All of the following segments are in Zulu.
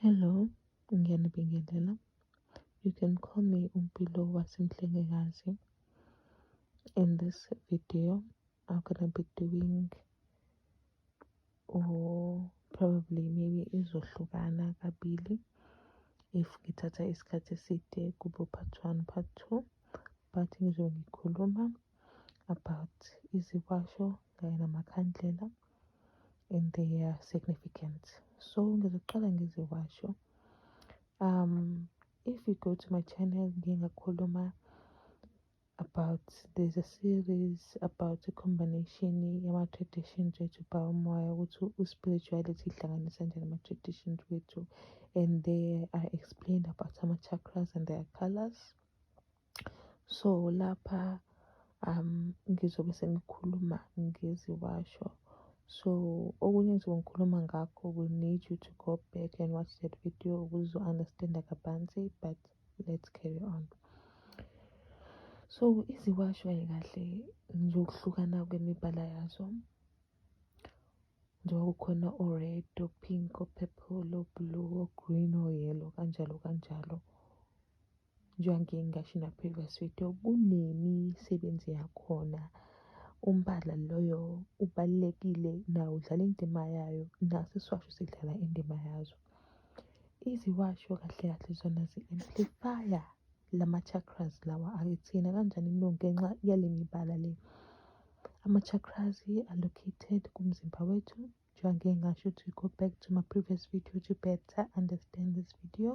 Hello, ngiyanibingelela. You can call me Umpilo waseMhlengekazi. In this video, I'm gonna be doing or probably maybe izohlukana kabili if ngithatha isikhathi eside kubo part one part two but ngizobe ngikhuluma about iziwasho kanye namakhandlela and their significance so ngizoqala ngeziwasho um if you go to my channel ngiye ngakhuluma about there's a series about the combination yama-traditions wethu by umoya ukuthi u-spirituality ihlanganisa njani ama-traditions wethu and they are explained about ama-chakras and their colors so lapha um ngizobe sengikhuluma ngeziwasho so okunye engizobe ngikhuluma ngakho we need you to go back and watch that video ukuze uzo-understanda kabanzi but let's carry on so iziwasho kahle ngizokuhlukana kwemibala yazo njengoba kukhona o-red o-pink o-purple o-blue o-green o-yellow kanjalo kanjalo Njengoba ngasho in a previous video kunemisebenzi yakhona umbala loyo ubalulekile nawo udlala indima yayo naso isiwasho sidlala indima yazo iziwasho kahle kahle zona zi-amplifya lama-chakras lawa akithina kanjani no ngenxa yale mibala le ama-chakras allocated kumzimba wethu njengoba ngasho ukuthi go back to my previous video to better understand this video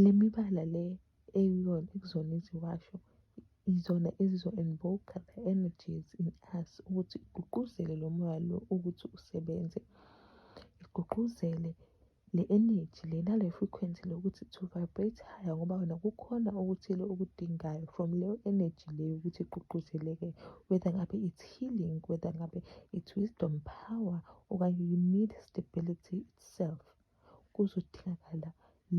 Le mibala le eyiyona ekuzona iziwasho izona ezizo-invoke-a the energies in us ukuthi igqugquzele lo moya lo ukuthi usebenze. Igqugquzele le energy le nale frequency le ukuthi to vibrate higher ngoba wena kukhona okuthile okudingayo from leyo energy le yokuthi igqugquzeleke whether ngabe it's healing, whether ngabe it's wisdom power okanye you need stability itself. kuzodingakala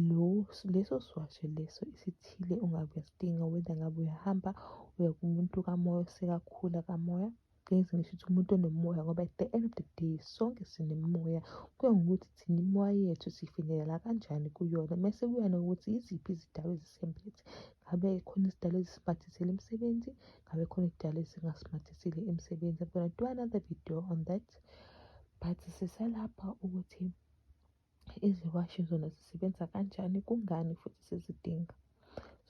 lowo leso siwasho leso isithile ungabe uyasidinga whether ngabe uyahamba uya kumuntu kamoya osekakhula kamoya ngeke ngisho ukuthi umuntu onomoya ngoba at the end of the day sonke sinemimoya kuya ngokuthi thina imoya yethu sifinyelela kanjani kuyona mese kuya nokuthi yiziphi izidalwa ezisemphethe ngabe khona izidalwa ezisimathisile emsebenzi ngabe khona izidalwa ezingasimathisile emsebenzi i'm gonna do another video on that but sisalapha ukuthi iziwashi zona zisebenza kanjani kungani futhi sizidinga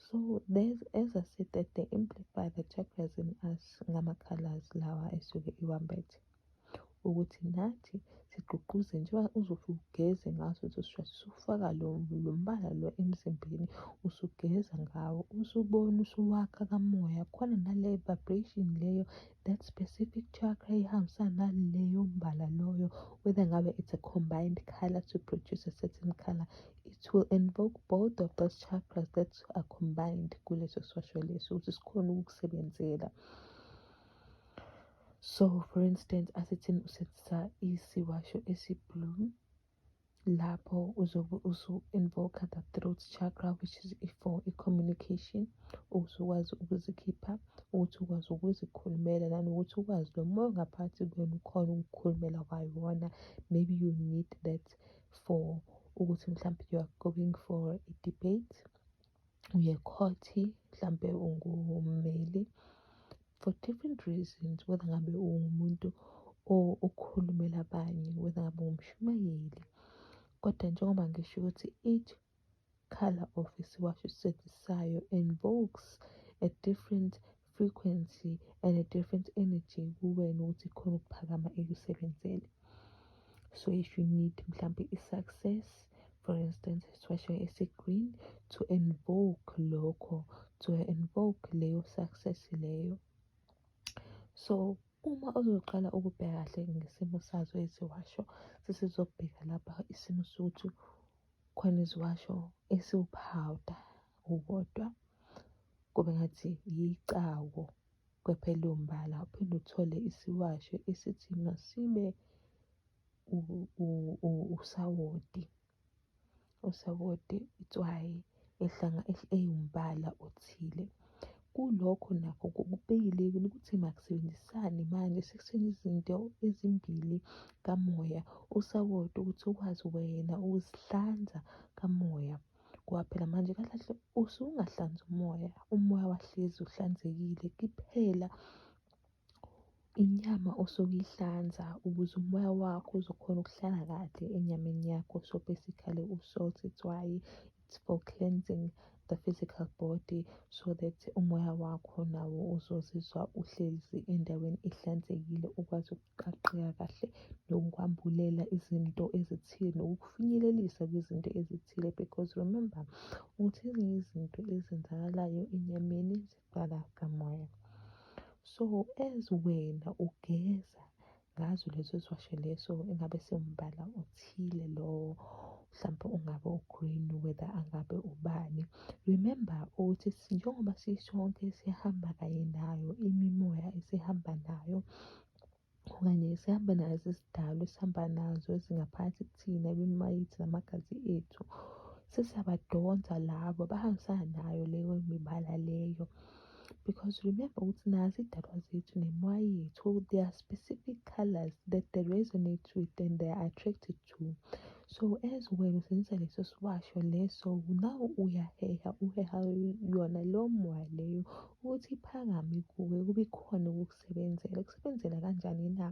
so there's as i said that they amplify the chakras in us ngama-colors lawa esuke iwambethe ukuthi nathi sigqugquze njengoba uzothi ugeze ngaso leso sishwathi usufaka lo mbala lo emzimbeni usugeza ngawo usubona usuwakha kamoya khona nale vibration leyo that specific chakra ihambisana naleyo mbala loyo whether ngabe it's a combined color to produce a certain color it will invoke both of those chakras that are combined kuleso swasho leso ukuthi sikhona ukukusebenzela so for instance asithini usebenzisa isiwasho esiblue lapho uzobe usu-invoke the throat chakra which is for i-communication ukuthi ukwazi ukuzikhipha ukuthi ukwazi ukuzikhulumela nanokuthi ukwazi lo moya ongaphathi kuyona ukhona ukukhulumela kwayona maybe you need that for ukuthi mhlawumbe you are going for a debate uye khoti mhlawumbe ungummeli for different reasons whether ngabe ungumuntu okhulumela abanye whether ngabe ungumshumayeli kodwa njengoba ngisho ukuthi each color of isiwasho esisethisayo invokes a different frequency and a different energy kuwena ukuthi khona ukuphakama ekusebenzele so if you need mhlampe i-success for instance isifashwe esi-green to invoke lokho to invoke leyo success leyo so uma uzoqala ukubheka kahle ngesimo sazo eziwasho sesizobheka lapha isimo sokuthi khona iziwasho esiwuphawuda ukodwa kube ngathi yicawo Kwephela umbala uphinde uthole isiwasho esithi masibe usawoti. Usawoti itswayi ehlanga ewumbala othile. Kulokho nakho kubeyilekile ukuthi makusebenzisane manje sekusebenzisa izinto ezimbili kamoya usawoti ukuthi ukwazi wena ukuzihlanza kamoya. ngoba phela manje kahle kahle usungahlanzi umoya umoya wahlezi uhlanzekile kuphela inyama osuke uyihlanza ukuze umoya wakho uzokhona ukuhlala kahle enyameni yakho so basically u-salt it's why it's for cleansing the physical body so that umoya wakho nawo uzozizwa uhlezi endaweni ehlanzekile ukwazi Qaqeka kahle nokukwambulela izinto ezithile nokukufinyelelisa kwizinto ezithile because remember ukuthi ezinye izinto ezenzakalayo enyameni ziqala kamoya. So as wena ugeza ngazo lezo ziwasho leso engabe siwumbala othile lowo mhlawumpe ungabe ugreen whether angabe ubani remember ukuthi njengoba sisonke sihamba kanye nayo imimoya esihamba nayo okanye sihamba nazo isidalwa esihamba nazo ezingaphansi kuthina imimayithi namagazi ethu sesiyabadonsa labo bahambisana nayo leyo mibala leyo because remember ukuthi nazi idalwa zethu nemoya yethu they are specific colors that they resonate with and they are attracted two so as wena usebenzisa leso siwasho leso nawe uyaheha uheha yona leyo moya leyo ukuthi iphakame kuwe kube khona ukukusebenzela kusebenzela kanjani na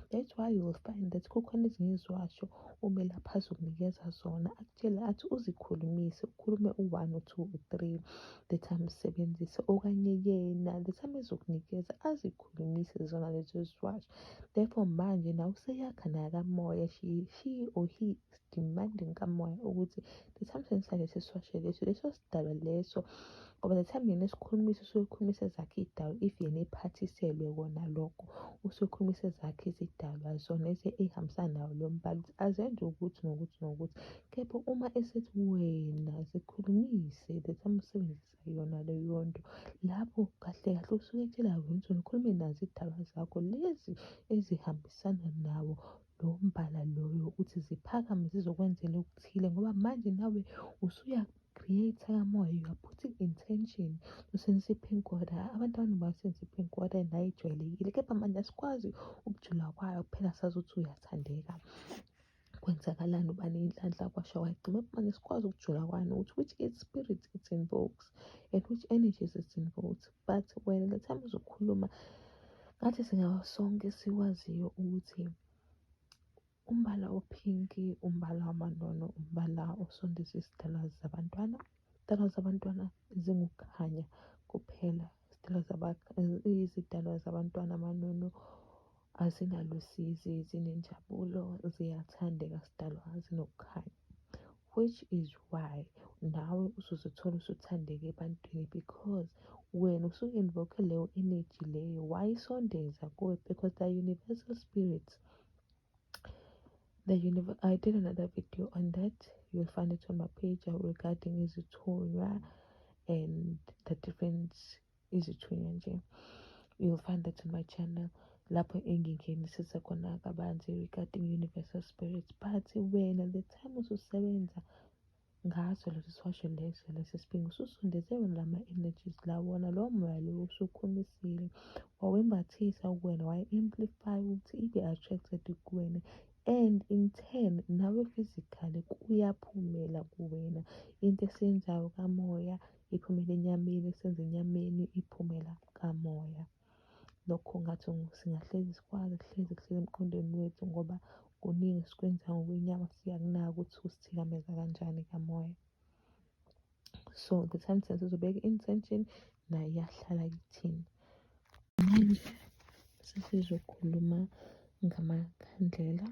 that's why you will find that kukhona ezinye iziwasho umelaphi azokunikeza zona akutshele athi uzikhulumise ukhulume u-one or two or three the time usebenzise okanye yena the time ezokunikeza azikhulumise zona lezo ziwasho Therefore manje nawe useyakha naye kamoya she, she or he is demanding kamoya ukuthi the time sengifane siswashe leso leso sidalwa leso ngoba the time yena esikhulumisa usuke ekhulumisa zakhe iy'dalwa if yena ephathiselwe kona lokho usuke ekhulumisa zakhe izidalwa zona ey'hambisana nawo lo mbala ukuthi azenze ukuthi nokuthi nokuthi kepha uma esethi wena zikhulumise the time usebenzisa uzoyizwisisa yona leyo nto. Lapho kahle kahle usuke etshela ukuthi ukhulume nazo iy'daba zakho lezi ezihambisana nawo lowo mbala loyo ukuthi ziphakame zizokwenzela okuthile ngoba manje nawe usuya create kamoya you are putting intention to sensiphing koda abantu abaningi basensiphing koda nayo ijwayelekile kepha manje asikwazi ukujula kwayo kuphela sazi ukuthi uyathandeka kwenzakalani uba ney'nhlanhla kwasha kwagcima manje sikwazi ukujula kwani ukuthi which is spirit it invokes and which energies it invokes but wena le time uzokhuluma ngathi singaba sonke siwaziyo ukuthi umbala ophinki umbala wamanono umbala osondisa izidalwa zabantwana izidalwa zabantwana zingukukhanya kuphela izidalwa izidalwa zabantwana amanono Azinalusizi, zinenjabulo, ziyathandeka zidalwa zinokukhanya which is why nawe usuzithola usuthandeke ebantwini because wena usuke invoke leyo energy leyo wayisondeza kuwe because the universal spirits the universe i did another video on that you'll find it on my page regarding izithunywa and the different izithunywa nje you'll find that on my channel lapho engingenisisa khona kabanzi regarding universal spirits but wena the time ususebenza ngaso lesi siwasho leso lesi sibhingi ususondeze wena lama-energies la wona lowo moya lowo usukhumisile wawembathisa kuwena waye-amplify ukuthi ibe attracted kuwena and in turn nawe physically kuyaphumela kuwena into esiyenzayo kamoya iphumele enyameni isenze enyameni iphumela kamoya lokho ngathi singahlezi sikwazi kuhlezi kuhlezi emqondweni wethu ngoba kuningi sikwenza ngokwenyama siyakunaka ukuthi kusithikameza kanjani kamoya so the time sense uzobeka i-intention nayo iyahlala kithini manje sesizokhuluma ngamakhandlela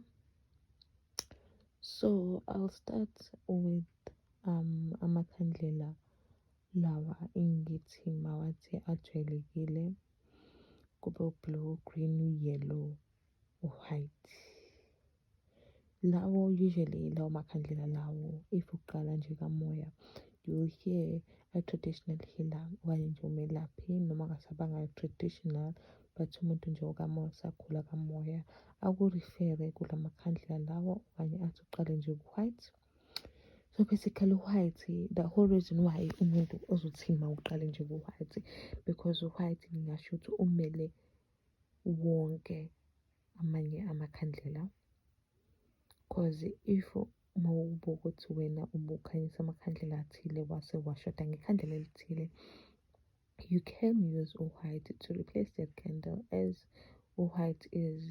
so i'll start with amakhandlela lawa engithi mawathi ajwayelekile kube u-blue, green, u-yellow, u-white. Lawo usually lawo makhandlela lawo if uqala nje kamoya you will hear a traditional healer okanye nje umelaphi noma ngasabanga traditional but umuntu nje okamoya usagula kamoya akurifere kula makhandlela lawo okanye athi uqale nje ku-white So basically u-white the whole reason why umuntu ozothini uma uqale nje ku-white because u-white ngingasho ukuthi umele wonke amanye amakhandlela because if uma ubuka ukuthi wena ubukhanyisa amakhandlela athile wase washoda ngekhandlela elithile you can use white to replace that candle as white is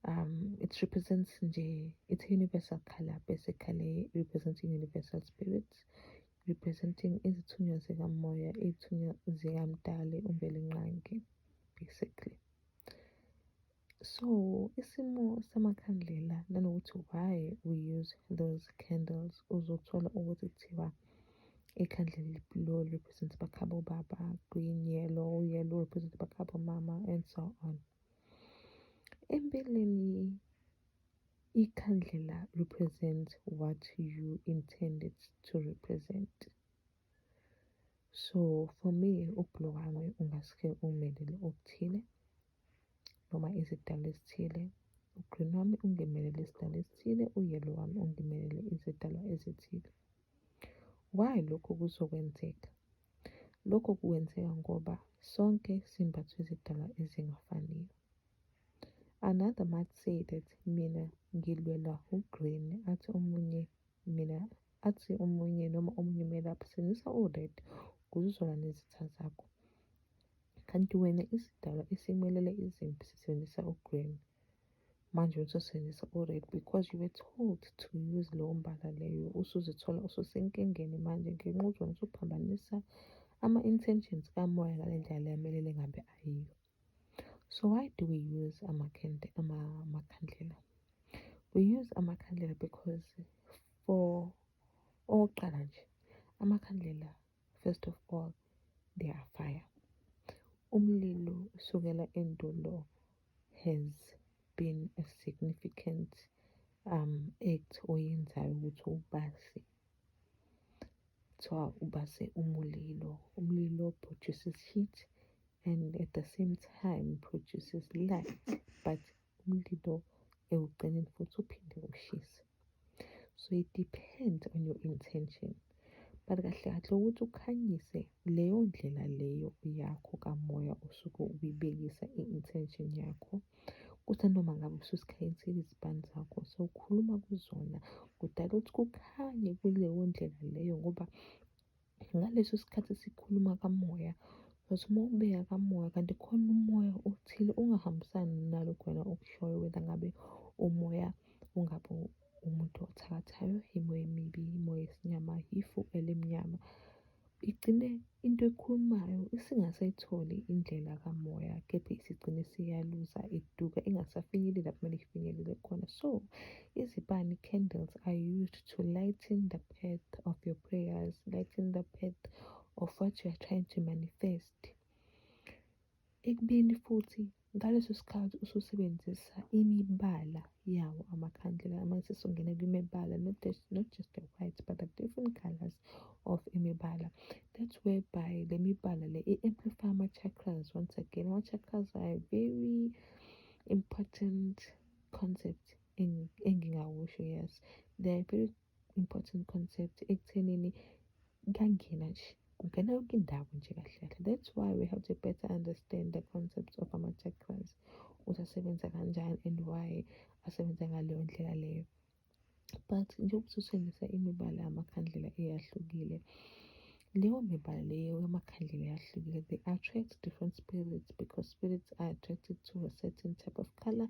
um it represents nje it's universal color basically representing universal spirits representing izithunywa zikamoya izithunywa zikamdali umbelingqangi basically So isimo samakhandlela nanokuthi why we use those candles uzothola ukuthi kuthiwa ikhandlela lo represent bakhabo baba, green yellow, yellow represent bakhabo mama and so on. Empeleni ikhandlela represent what you intended to represent. So for me ubhulo wami ungasuke umelele okuthile noma izidalwa ezithile. U-green wami ungimelele isidalwa esithile, u-yellow wami ungimelele izidalwa ezithile. Why lokho kuzokwenzeka? Lokho kwenzeka ngoba sonke simbathwe izidalwa ezingafaniyo. Another might say that mina ngilwela u-green athi omunye mina athi omunye noma omunye umelaphi sebenzisa o-red ukuze uzolwa nezitha zakho. Kanti wena isidalwa esimelele izimpi sisebenzisa o-green. Manje usosebenzisa o-red because you were told to use lowo mbala leyo. Usuzithola ususenkingeni manje ngenxa uzona usuphambanisa ama-intentions kamoya ngale ndlela le amelele ngabe ayiyo. So why do we use amakhandlela? Amakhandlela. We use amakhandlela because for okokuqala nje amakhandlela first of all they are fire. Umlilo usukela endulo has been a significant um act oyenzayo ukuthi ubase Kuthiwa ubase umulilo, umlilo produces heat and at the same time produces light but umlilo ekugcineni futhi uphinde ushise. So it depends on your intention. But kahle kahle ukuthi ukhanyise leyo ndlela leyo yakho kamoya osuke ubibekisa i-intention yakho. Kuthi noma ngabe usuzikhethile izibani zakho sewukhuluma kuzona kudala ukuthi kukhanye kuleyo ndlela leyo ngoba ngaleso sikhathi sikhuluma kamoya uzothi uma ubeka kamoya kanti khona umoya othile ongahambisani nalokho wena okushoyo wena ngabe umoya . umuntu othakathayo, imoya emibi, imoya yesinyama, ifu elimnyama. Igcine into ekhulumayo isingasayitholi indlela kamoya kepha isigcine siyaluza iduka ingasafinyeleli lapho kumele ifinyelele khona. So izibani, candles, are used to lighten the path of your prayers, lighten the path of what you are trying to manifest. Ekubeni futhi ngaleso sikhathi ususebenzisa imibala yawo amakhandlela uma sesongena kwimibala not just, not just the white but the different colors of imibala that's whereby le mibala le i-amplify ama-chakras once again ama-chakras are a very important concept engingawusho yes they are very important concept ekuthenini kuyangena nje kungena yonke indawo nje kahle kahle that's why we have to better understand the concept of ama-chakras ukuthi asebenza kanjani and why asebenza ngaleyo ndlela leyo but njengoba usutshengisa imibala yamakhandlela eyahlukile leyo mibala leyo yamakhandlela eyahlukile they attract different spirits because spirits are attracted to a certain type of color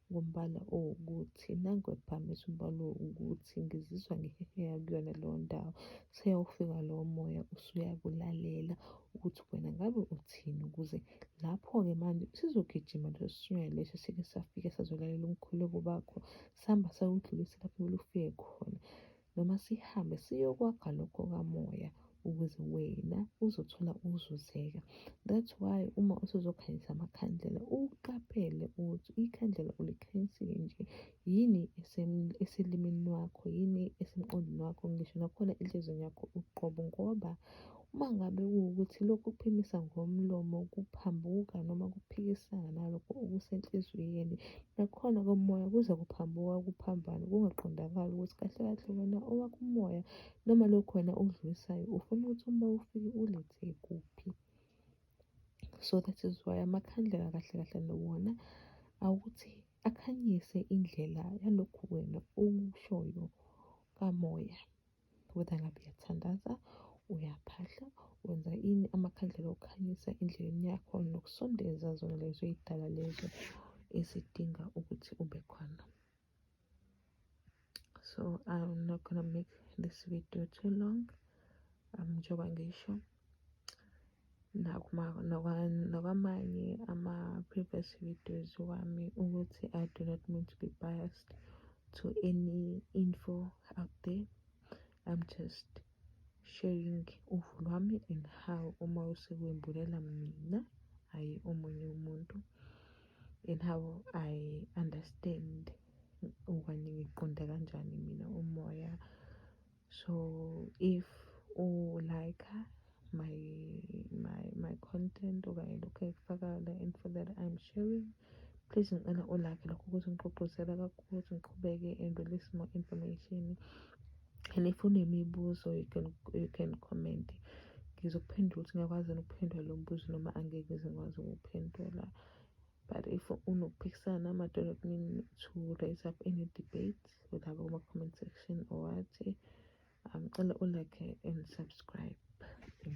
Ngombala owukuthi nangu ephakamisa umbala owukuthi ngizizwa ngiheheya kuyona leyo ndawo. Seyawufika lowo moya usuyakulalela ukuthi wena ngabe uthini ukuze lapho-ke manje sizogijima leso sinyoni leso sike safike sazolalela umkhuleko bakho sihamba sayodlulisa lapho kumele ufike khona. noma sihambe siyokwakha lokho kamoya ukuze wena uzothola ukuzuzeka that's why uma usuzokhanyisa amakhandlela uqaphele ukuthi ikhandlela ulikhanyisile nje yini eselimini wakho yini esemqondweni wakho ngisho nakhona enhlizweni yakho uqobo ngoba Uma ngabe kuwukuthi lokhu kuphimisa ngomlomo kuphambuka noma kuphikisana nalokho okusenhliziyweni, nakhona komoya kuze kuphambuka kuphambane kungaqondakali ukuthi kahle kahle wena owakho umoya noma lokhu wena okudlulisayo ufuna ukuthi umoya ufike ulethe kuphi. So that is why amakhandlela kahle kahle nawona awukuthi akhanyise indlela yalokhu wena okushoyo kamoya. whether ngabe uyathandaza uyaphahla wenza ini amakhandlela okukhanyisa endleleni yakho nokusondeza zona lezo y'dala lezo ezidinga ukuthi ube khona so i'm not gonna make this video too long um njengoba ngisho nakwamanye ama-previous videos wami ukuthi I do not mean to be biased to any info out there I'm just sharing uvo lwami and how uma usekwembulela mina hhayi omunye umuntu and how I understand okanye ngiqonda kanjani mina umoya so if u like my my my content okanye lokho ekufakayo la info that i'm sharing please ngicela u like lokho ukuthi ngigqugquzela kakhulu ukuthi ngiqhubeke and release more information and if unemibuzo you can you can comment ngizokuphendula ukuthi ngiyakwazi ukuphendula lo mbuzo noma angeke ngikwazi ukuphendula but if unokuphikisana namadoda kumina to raise up any debate ulaba kuma-comment section or what um, ngicela ulike and subscribe thank you